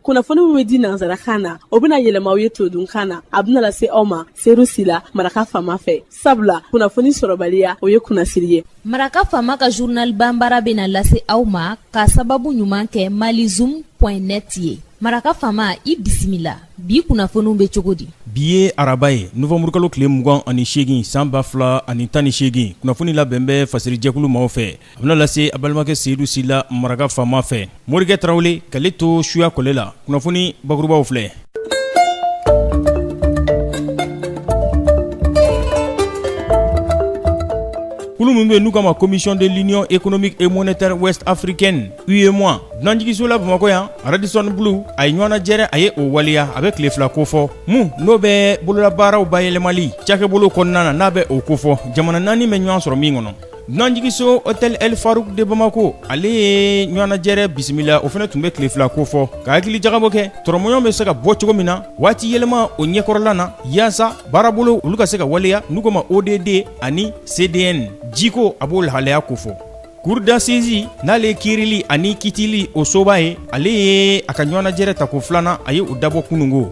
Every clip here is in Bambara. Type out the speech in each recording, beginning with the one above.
kunnafoni min bɛ di nansarakan na o bɛna yɛlɛma aw ye todunkan na a bɛna lase aw ma seyidu sila maraka faama fɛ sabula kunnafoni sɔrɔbaliya o ye kunnasiri ye maraka faama ka journal banbara bɛna lase aw ma ka sababu ɲuman kɛ mali zoom net ye maraka faama i bisimila bi kunnafoniw bɛ cogo di bi ye araba ye novanburukalo tile mugan ani seegin san ba fila ani tan ni seegin kunnafoni labɛn bɛ fasiri jɛkulu maaw fɛ A bɛna lase a balimakɛ seyidu sila maraka faama fɛ morikɛ tarawele k'ale to suya kɔlɛ la kunnafoni bakurubaw filɛ kulu min bɛ n'u k'a ma commission de l'union économique et monétaire ouest africaine UEMOA dunanjiginso la bamakɔ yan Radisson Blu a ye ɲɔgɔnnajɛrɛ a ye o waleya a bɛ tile fila kofɔ min n'o bɛ bololabaaraw bayɛlɛmali cakɛbolo kɔnɔna na n'a bɛ o kofɔ jamana naani bɛ ɲɔgɔn sɔrɔ min kɔnɔ Dunanjiginso hôtel El Farouk de Bamako ale ye ɲɔgɔnnajɛrɛ bisimila o fana tun bɛ tile fila kofɔ ka hakili jagabɔ kɛ tɔrɔmɔɲɔgɔn bɛ se ka bɔ cogo min na waati yɛlɛma o ɲɛkɔrɔla na yaasa baarabolo olu ka se ka waleya n'u ko ma ODD ani CDN jiko a b'o lahalaya kofɔ cour d'assises n'ale ye kiirili ani kitili o soba ye ale ye a ka ɲɔgɔnnajɛrɛ tako filanan a ye o dabɔ kunungo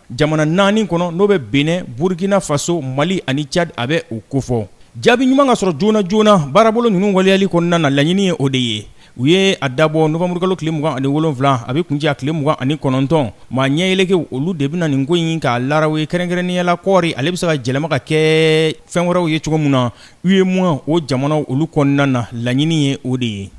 Jamana naani kɔnɔ n'o bɛ benin burukina faso mali ani cadi a bɛ o kofɔ jaabi ɲuman ka sɔrɔ joona joona baarabolo ninnu waleyali kɔnɔna na laɲini ye o de ye u ye a dabɔ novanburukalo tile mugan ani wolonwula a bɛ kuncɛ a tile mugan ani kɔnɔntɔn maa ɲɛyɛlɛkɛ olu de bɛna nin ko in k'a law ye kɛrɛnkɛrɛnnenya la kɔɔri ale bɛ se ka yɛlɛma ka kɛ fɛn wɛrɛw ye cogo min na UEMOA o jamanaw olu kɔnɔna na laɲini ye o de ye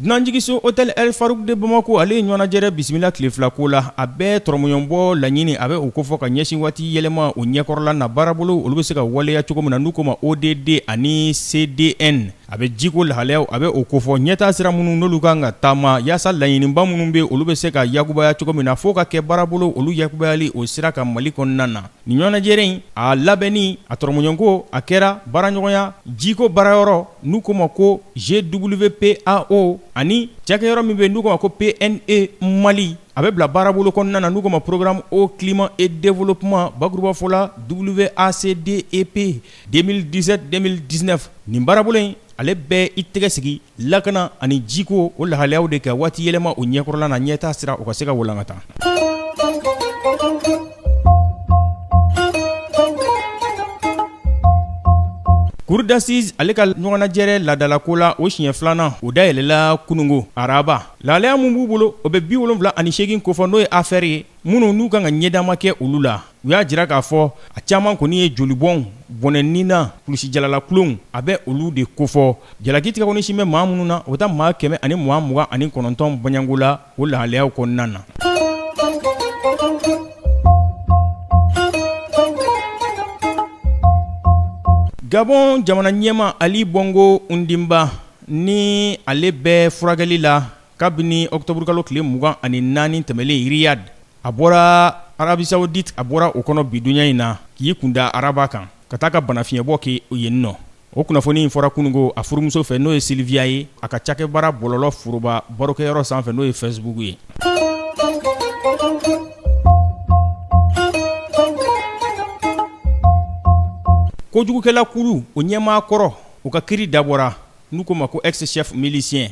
dunanjiginso hôtel El Farouk de Bamako ale ye ɲɔgɔnnajɛrɛ bisimila tile fila ko la a bɛ tɔrɔmɔɲɔgɔnbɔ laɲini a bɛ o kofɔ ka ɲɛsin waati yɛlɛma o ɲɛkɔrɔla na baarabolo olu bɛ se ka waleya cogo min na n'u ko ma ODD ani CDN A bɛ jiko lahalayaw a bɛ o kofɔ ɲɛtaa sira minnu n'olu kan ka taama yaasa laɲiniba minnu bɛ olu bɛ se ka yakubaya cogo min na fo ka kɛ baarabolo olu yakubayali o sira kan mali kɔnɔna na nin ɲɔgɔnnajɛrɛ in a labɛnni a tɔrɔmɔɲɔgɔnko a kɛra baaraɲɔgɔnya jiko baarayɔrɔ n'u ko ma ko GWPAO ani cakɛyɔrɔ min bɛ n'u ko ma ko PNE mali a bɛ bila baarabolo kɔnɔna na n'u ko ma programme eau climat et développement bakurubafɔ la WACDEP 2017-2019 nin baarabolo in ale bɛ i tɛgɛ sigi lakana ani jiko o lahalayaw de kan waati yɛlɛma o ɲɛkɔrɔla na ɲɛtaa sira o ka se ka walankata Cour d'assises ale ka ɲɔgɔnnajɛrɛ ladalako la o siɲɛ filanan o dayɛlɛla kunungo araba lahalaya min b'u bolo o bɛ bi wolonwula ani seegin kofɔ n'o ye affaire ye minnu n'u kan ka ɲɛdama kɛ olu la u y'a jira k'a fɔ a caman kɔni ye jolibɔnw bɔnɛnina kulusijalalakulonw a bɛ olu de kofɔ jalaki tigɛkɔni sin bɛ maa minnu na o bɛ taa maa kɛmɛ ani mugan mugan ani kɔnɔntɔn bɔɲɔgɔnko la o lahalayaw kɔnɔna na gabon jamana ɲɛmaa ali bongo ondimba ni ale bɛ furakɛli la Kabini octobre kalo tile mugan ani naani tɛmɛnlen Riyad a bɔra Arabie Saoudite a bɔra o kɔnɔ bi donya in na k'i kunda araba kan ka taa ka banafiɲɛbɔ kɛ yenninnɔ o kunnafoni in fɔra kununko a furumuso fɛ n'o ye Sylvia ye a ka cakɛ baara bɔlɔlɔ foroba barokɛyɔrɔ sanfɛ n'o ye Facebook ye kojugukɛlakulu o ɲɛmaa kɔrɔ o ka kiri dabɔra n'u ko o ma ko ex-chef milicien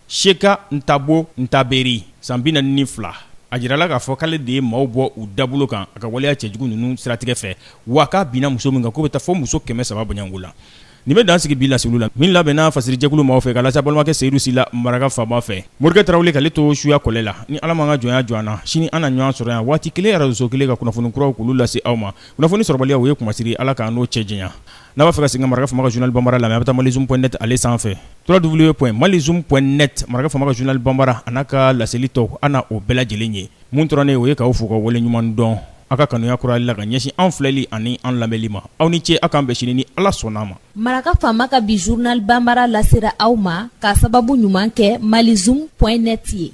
Sheka Ntabo Ntaberi, san 42, a jirala k'a fɔ k'ale de ye maaw bɔ u dabolo kan a ka waleya cɛjugu ninnu siratigɛ fɛ, wa k'a binna muso min kan k'o bɛ taa fo muso 300 bɔɲɔgɔnko la. Nin bɛ dan sigi bi laseliw la, min labɛnna fasirijɛkulu maaw fɛ, k'a lase a balimakɛ Seyidu Sila maraka faama fɛ. Morikɛ Tarawele k'ale to suya kɔlɛ la, ni Ala m'an ka jɔnya jɔ an na, sini an na ɲɔgɔn sɔrɔ yan waati kelen, arajoso kelen, ka kunnafoni kuraw k'olu lase aw ma. Kunnafoni sɔrɔbaliya, o ye kunmasiri ye. Ala k'an n'o cɛ janya. N'a b'a fɛ ka segin ka Maraka faama ka journal Bambara lamɛn a bɛ taa malizoom.net ale sanfɛ www.malizoom.net Maraka faama ka journal Bambara a n'a ka laseli tɔw a na o bɛɛ lajɛlen ye min tora ne ye o ye k'aw fo k'aw waleɲumandɔn aw ka kanuya kurayali la ka ɲɛsin an filɛli ani an lamɛnni ma aw ni ce aw k'an bɛn sini ni Ala sɔnn'a ma. Maraka faama ka bi journal Bambara lasera aw ma k'a sababu ɲuman kɛ malizoom.net ye.